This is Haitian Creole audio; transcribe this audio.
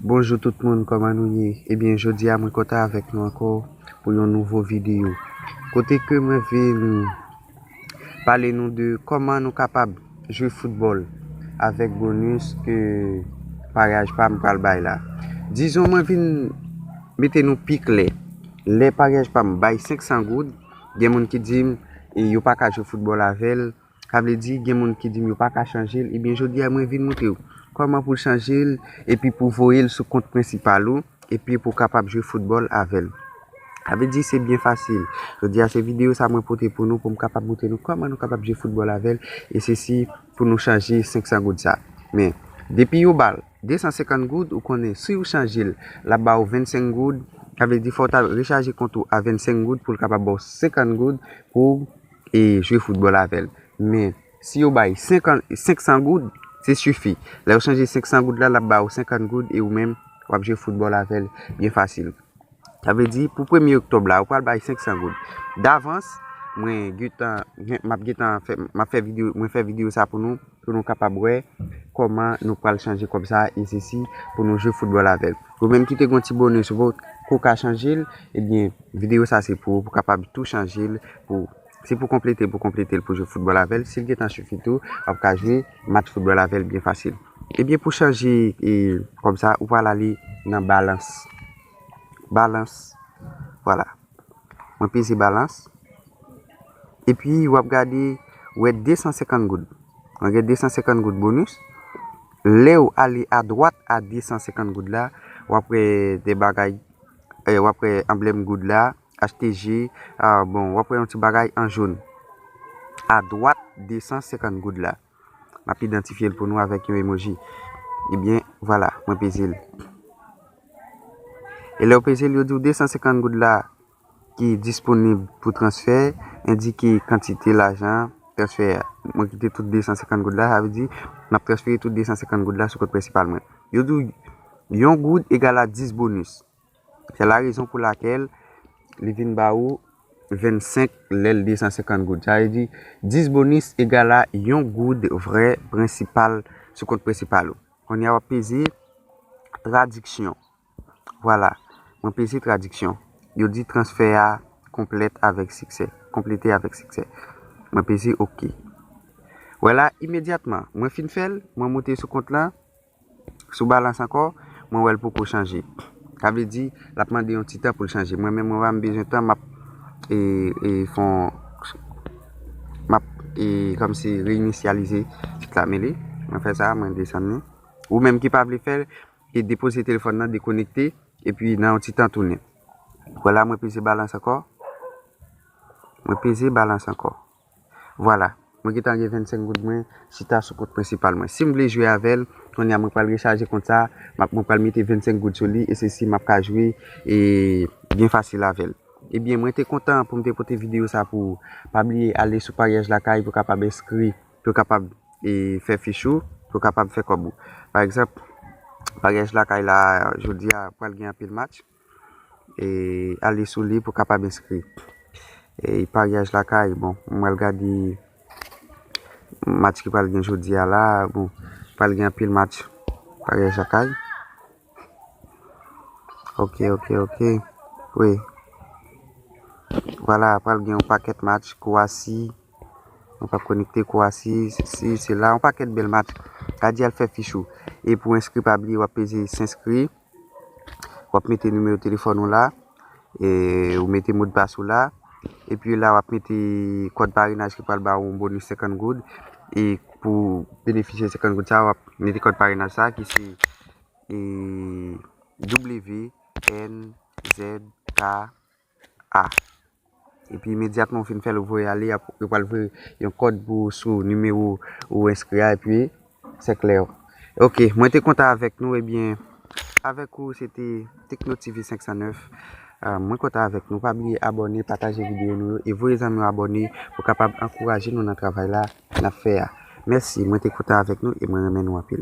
Bonjou tout moun kòman nou ye ebyen jodi a mwen kontan avèk nou ankò pou yon nouvo videyo kote ke mwen vin pale nou de kòman nou kapab jwe foutbòl avèk bonus ke paryaj pa m pral bay la dizon mwen vin mete nou pi klè lè paryaj pa m bay 500 goud gen moun ki di m yo pa ka jwe foutbòl avè l Sa vle di gen moun ki dim yo paka chanjel ebyen jodia mwen vin moutrew kòman pou chanjel epi pou voyel sou kont prensipal ou epi pou kapab jwe foutbòl avèl sa vle di se byen fasil jodia se video sa mwen pote pou nou poum kapab moutre nou kòman nou kapab jwe foutbòl avèl e se si pou nou chanje 500 goud sa men depi yo bal 250 goud ou konnen siw chanjel lap baw 25 goud sa vle di fòw ta rechaje kont ou a 25 goud poul kapab baw 50 goud pou e jwe foutbòl avè l. Men, si yo bay 500 goud, se sifi. Lè yo chanje 500 goud la, l ap ba ou 50 goud e ou menm w ap jwe foutbòl avè l byen fasil. Sa vle di, pou premye oktòb la, ou pral bay 500 goud. Davans, mwen gentan, m ap gentan fè, m ap fè videyo, mwen fè videyo sa pou nou. pou nou kapab wè kòman nou pral chanje kòb sa e sesi pou nou jwe foutbòl avèl. Ou menm ki te gon ti bonus ou poko ka chanjel ebyen video sa se pou ou pou kapab tou chanjel pou se pou konpletel pou konpletel pou jwe foutbòl avèl sil gentan sifi tou wap ka jwe match foutbòl avèl byen fasil. Ebyen pou chanje kòb sa ou pral ale nan balans balans vwala. Mwen peze balans. E pi wap gade ou wè 250 goud. Mwen gen 250 goud bonus. Lew ale a dwat a 250 goud la, wap wè de bagay, wap wè anblèm goud la, achte je, bon wap wè yon ti bagay an joun. A dwat 250 goud la. Map idantifyel pou nou avèk yon emoji. Ebyen vwala mwen peze l. E lèw peze l yo diw 250 goud la ki disponib pou transfè endike kantite lajan transfè a. Mwen kite tout 250 goud la sa vle di map transfere tout 250 goud la sou kont prensipal mwen. Yo diw yon goud egal a 10 bonus. Se la rezon pou lakèl li vin ba ou 25 lè l 250 goud. Sa vle di 10 bonis egal a yon goud vrè prensipal sou kont prensipal ou. Kounye a w ap peze tradiksyon. Vwala, mwen peze tradiksyon. Yo di transfè a konplèt avèk siksè. Konplete avèk siksè. Mwen peze ok. Wè la, imedyatman, mwen fin fè l, mwen monte sou kont lan. Sou balans ankò, mwen wè l poko chanje. Sa vle di, l ap mande yon ti tan pou l chanje. Mwen menm, mwen pa m bezwen tan, m ap fè yon, m ap kòmsi reyinisyalize sit la. Men li, mwen fè sa, mwen desann li. Ou menm ki pa vle fè l, e depoze telefòn nan, dekonekte, epi nan yon ti tan tounen. Wè la, mwen peze balans ankò. Mwen peze balans ankò. Vwala, mwen gentan gen 25 goud mwen chita sou kont prensipal mwen. Sim vle jwe avèl, kounye a mwen pral rechaje kont sa, map mwen pral mete 25 goud sou li e se si map ka jwe e byen fasil avèl. Ebyen mwen te kontan poum te pote video sa pou ou. Pa bliye ale sou paryaj lakay pou kapab enskri, pou kapab e fè fich ou, pou kapab fè kòb ou. Pa egzanp, paryaj lakay la jodi a pral gen anpil match. Ale sou li pou w kapab enskri. E paryaj lakay, bon, m pral gade match ki pral gen jodi a la. Bon, pral gen anpil match paryaj lakay. Ok, ok, ok. Wi. Vwala, pral gen yon pakèt match kou a si. Mwen pa konekte kou a si. Si, si la. Yon pakèt bèl match. Gade al fè fich ou. E pou enskri pa bliye w ap peze s'enskri. Wap mete nimewo telefòn ou la, ou mete modpas ou la, epi la wap mete kòd parenaj ki pral ba ou yon bonis 50 goud, e pou benefisye 50 goud sa a, wap mete kòd parenaj sa a ki se WNZK. a. Epi imedyatman ou fin fè l ou voye ale yo pral voye yon kòd pou ou sou nimewo ou enskri a epi sè klè yo. Ok mwen te kontan avèk nou ebyen avèk ou se te Tekno TV 509 mwen kontan avèk nou pa bliye abòne pataje videyo nou yo e voye zanmi w abòne pou kapab ankouraje nou nan travay la n ap fè a mèsi mwen te kontan avèk nou e mwen renmen nou anpil.